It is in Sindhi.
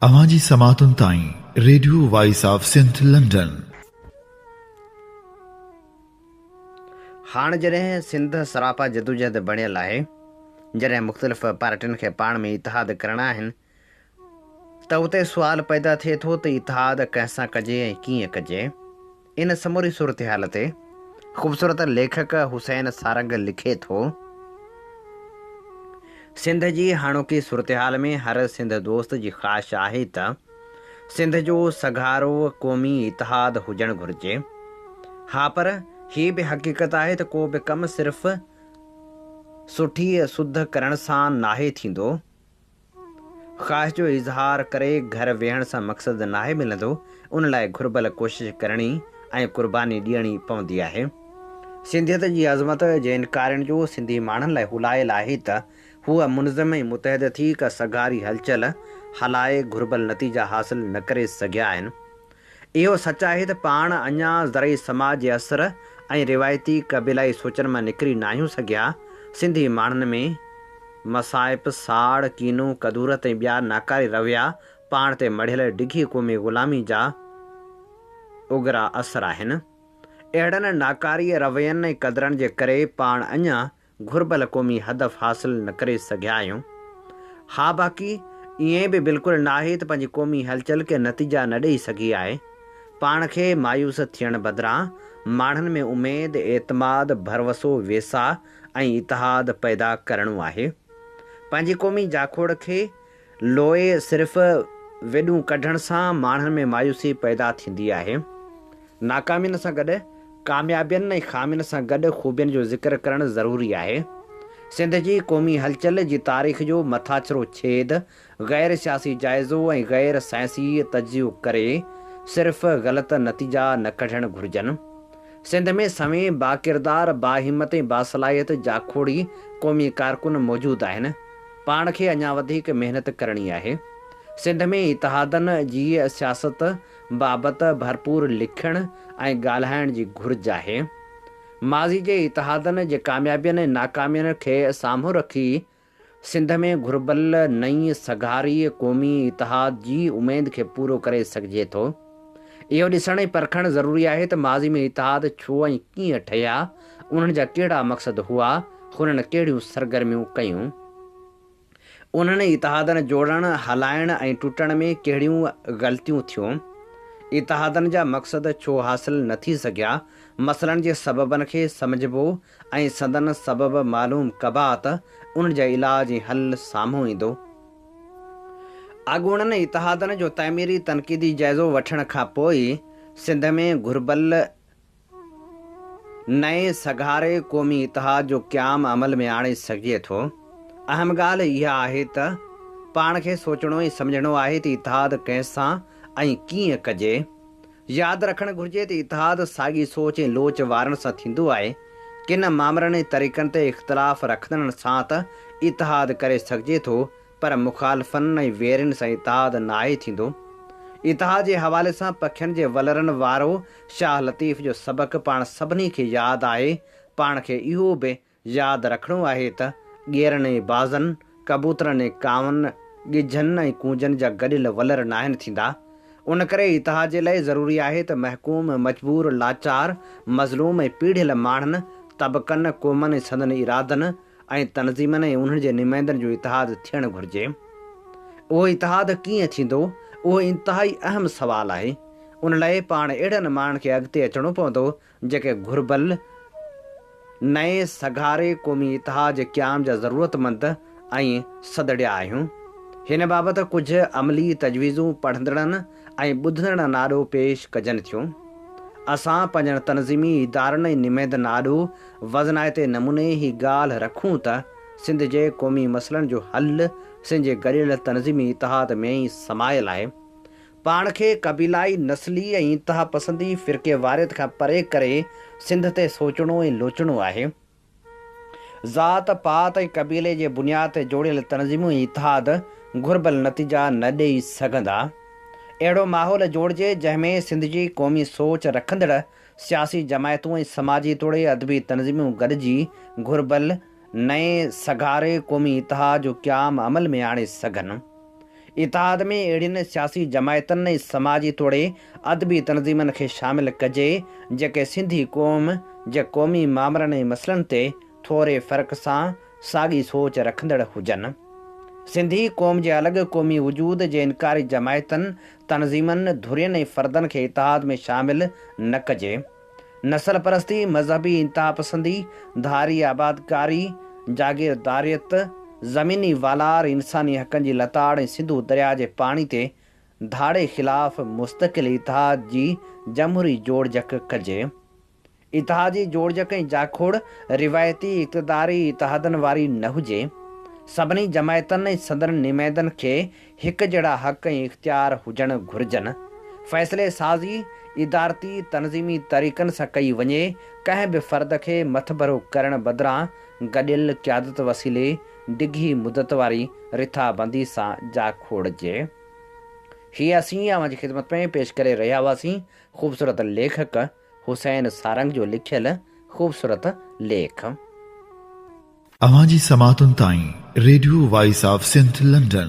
اوهان جي سماعتن تائين radio voice of Sindh London. هاڻ جڏهن سنڌ سراپا جدوجهد بڻيل آهي، جڏهن مختلف پارٽين کي پاڻ ۾ اتحاد ڪرڻا آهن ته اتي سوال پيدا ٿئي ٿو ته اتحاد ڪنهن سان ڪجي ۽ ڪيئن ڪجي؟ ان سموري صورتحال تي خوبصورت ليکڪ حسين سارنگ لکي ٿو، سنڌ جي هاڻوڪي صورتحال ۾ هر سنڌ دوست جي خواهش آهي ته سنڌ جو سگهارو قومي اتحاد هجڻ گهرجي. ها پر هي به حقيقت آهي ته ڪو به ڪم صرف سٺي سڌ ڪرڻ سان ناهي ٿيندو. خواهش جو اظهار ڪري گهر ويهڻ سان مقصد ناهي ملندو، ان لاء گهربل ڪوشش ڪرڻي ۽ قرباني ڏيڻي پوندي آهي. سنڌيت جي عظمت جي انڪارين جو سنڌي ماڻهن لاء هلائل آهي ته هو منظم ۽ متحد ٿي ڪا سگهاري هلچل هلائي گهربل نتيجا حاصل نه ڪري سگهيا آهن. اهو سچ آهي ته پاڻ اڃا زرعي سماج جي اثر ۽ روايتي قبيلائي سوچن مان نڪري ناهيون سگهيا. سنڌي ماڻهن ۾ مصائب، ساڙ، ڪينو، ڪدورت ۽ ٻيا ناڪاري رويا پاڻ تي مڙهيل ڊگهي قومي غلامي جا اگرا اثر آهن. اهڙن ناڪاري روين ۽ قدرن جي ڪري پاڻ اڃا گهربل قومي هدف حاصل نه ڪري سگهيا آهيون. ها باقي ائين به بلڪل ناهي ته پنهنجي قومي هلچل ڪي نتيجا نه ڏئي سگهي آهي. پاڻ کي مايوس ٿيڻ بدران ماڻهن ۾ اميد، اعتماد، ڀروسو، ويساهه ۽ اتحاد پيدا ڪرڻو آهي. پنهنجي قومي جاکوڙ کي لوئي صرف ويڏون ڪڍڻ سان ماڻهن ۾ مايوسي پيدا ٿيندي آهي. ناڪامين سان گڏ ڪاميابين ۽ خامين سان گڏ خوبين جو ذڪر ڪرڻ ضروري آهي. سنڌ جي قومي هلچل جي تاريخ جو مٿاڇرو ڇيد غير سياسي جائزو ۽ غير سائنسي تجزيو ڪري صرف غلط نتيجا نه ڪڍڻ گهرجن. سنڌ ۾ سوين باڪردار، باهمت ۽ باصلاحيت جاکوڙي قومي ڪارڪن موجود آهن. پاڻ کي اڃا وڌيڪ محنت ڪرڻي آهي. سنڌ ۾ اتحادن جي سياست بابت ڀرپور لکڻ ۽ ڳالهائڻ جي گهرج آهي. ماضي جي اتحادن جي ڪاميابين ۽ ناڪامين کي سامهون رکي سنڌ ۾ گهربل نئين سگهاري قومي اتحاد جي اميد کي پورو ڪري سگهجي ٿو. اهو ڏسڻ ۽ پرکڻ ضروري آهي ته ماضي ۾ اتحاد ڇو ۽ ڪيئن ٺهيا، انهن جا ڪهڙا مقصد هئا، هنن ڪهڙيون سرگرميون ڪيون، انهن اتحادن جوڙڻ، هلائڻ ۽ ٽٽڻ ۾ ڪهڙيون غلطيون ٿيون، اتحادن جا مقصد ڇو حاصل نه ٿي سگهيا، مسئلن جي سببن کي سمجهبو، ۽ سندن سبب معلوم ڪبا ته انهن جا علاج ۽ حل سامهون ايندو. اڳوڻن اتحادن جو تعميري تنقيدي جائزو وٺڻ کان پوء ئي سنڌ ۾ گهربل نئين سگهاري قومي اتحاد جو قيام عمل ۾ آڻي سگهجي ٿو. اهم ڳالهه اها آهي ته پاڻ کي سوچڻو ۽ سمجهڻو آهي ته اتحاد ڪنهن سان ۽ ڪيئن ڪجي؟ ياد رکڻ گهرجي ته اتحاد ساڳي سوچ ۽ لوچ وارن سان ٿيندو آهي، ڪن مامرن ۽ طريقن تي اختلاف رکندڙن سان ته اتحاد ڪري سگهجي ٿو پر مخالفن ۽ ويرين سان اتحاد ناهي ٿيندو. اتحاد جي حوالي سان پکين جي ولرن وارو شاهه لطيف جو سبق پاڻ سڀني کي ياد آهي، پاڻ کي اهو به ياد رکڻو آهي ته ڳيرن ۽ بازن، ڪبوترن ۽ ڪاون، ڳجهن ۽ ڪونجن جا گڏيل ولر ناهن ٿيندا. ان ڪري اتحاد جي لاء ضروري آهي ته محڪوم، مجبور، لاچار، مظلوم ۽ پيڙهيل ماڻهن، طبقن، قومن ۽ سندن ارادن ۽ تنظيمن ۽ انهن جي نمائندن جو اتحاد ٿيڻ گهرجي. اهو اتحاد ڪيئن ٿيندو؟ اهو انتهائي اهم سوال آهي. ان لاء پاڻ اهڙن ماڻهن کي اڳتي اچڻو پوندو جيڪي گهربل نئين سگهاري قومي اتحاد جي قيام جا ضرورتمند ۽ سڌڙيا آهيون. هن بابت ڪجهه عملي تجويزون پڙهندڙن ۽ ٻڌندڙن آڏو پيش ڪجن ٿيون. اسان پنهنجن تنظيمي ادارن ۽ نمائندن آڏو وزنائتي نموني هي ڳالهه رکون ته سنڌ جي قومي مسئلن جو حل سنڌ جي گڏيل تنظيمي اتحاد ۾ ئي سمايل آهي. پاڻ کي قبيلائي، نسلي ۽ انتهاپسندي فرقيواريت کان پري ڪري سنڌ تي سوچڻو ۽ لوچڻو آهي. ذات، پات ۽ قبيلي جي بنياد تي جوڙيل تنظيمون ۽ اتحاد گهربل نتيجا نه ڏئي سگهندا. اهڙو ماحول جوڙجي جنهن ۾ سنڌ جي قومي سوچ رکندڙ سياسي جماعتون ۽ سماجي توڙي ادبي تنظيمون گڏجي گهربل نئين سگهاري قومي اتحاد جو قيام عمل ۾ آڻي سگهن. اتحاد ۾ اهڙين سياسي جماعتن ۽ سماجي توڙي ادبي تنظيمن کي شامل ڪجي جيڪي سنڌي قوم جي قومي مامرن ۽ مسئلن تي ٿوري فرق سان ساڳي سوچ رکندڙ هجن. سنڌي قوم جي الڳ قومي وجود جي انڪاري جماعتن، تنظيمن، ڌرين ۽ فردن کي اتحاد ۾ شامل نه ڪجي. نسل پرستي، مذهبي انتهاپسندي، ڌاري آبادڪاري، جاگيرداريت، زميني والار، انساني حقن جي لتاڙ ۽ سنڌو درياهه جي پاڻي تي ڌاڙي خلاف مستقل اتحاد جي جمهوري جوڙجڪ ڪجي. اتحادي جوڙجڪ ۽ جاکوڙ روايتي اقتداري اتحادن واري نه هجي. سڀني جماعتن ۽ سندن نمائندن کي هڪجهڙا حق ۽ اختيار هجڻ گهرجن، فيصلي سازي ادارتي تنظيمي طريقن سان ڪئي وڃي، ڪنهن به فرد کي مٿڀرو ڪرڻ بدران گڏيل قيادت وسيلي ڊگهي مدت واري رٿابندي سان جا کوڙجي. هي اسين اوهان جي خدمت ۾ پيش ڪري رهيا هئاسين خوبصورت ليکڪ، حسين سارنگ جو لکيل خوبصورت ليک. اوهان جي سماعتن تائين radio voice of Sindh London.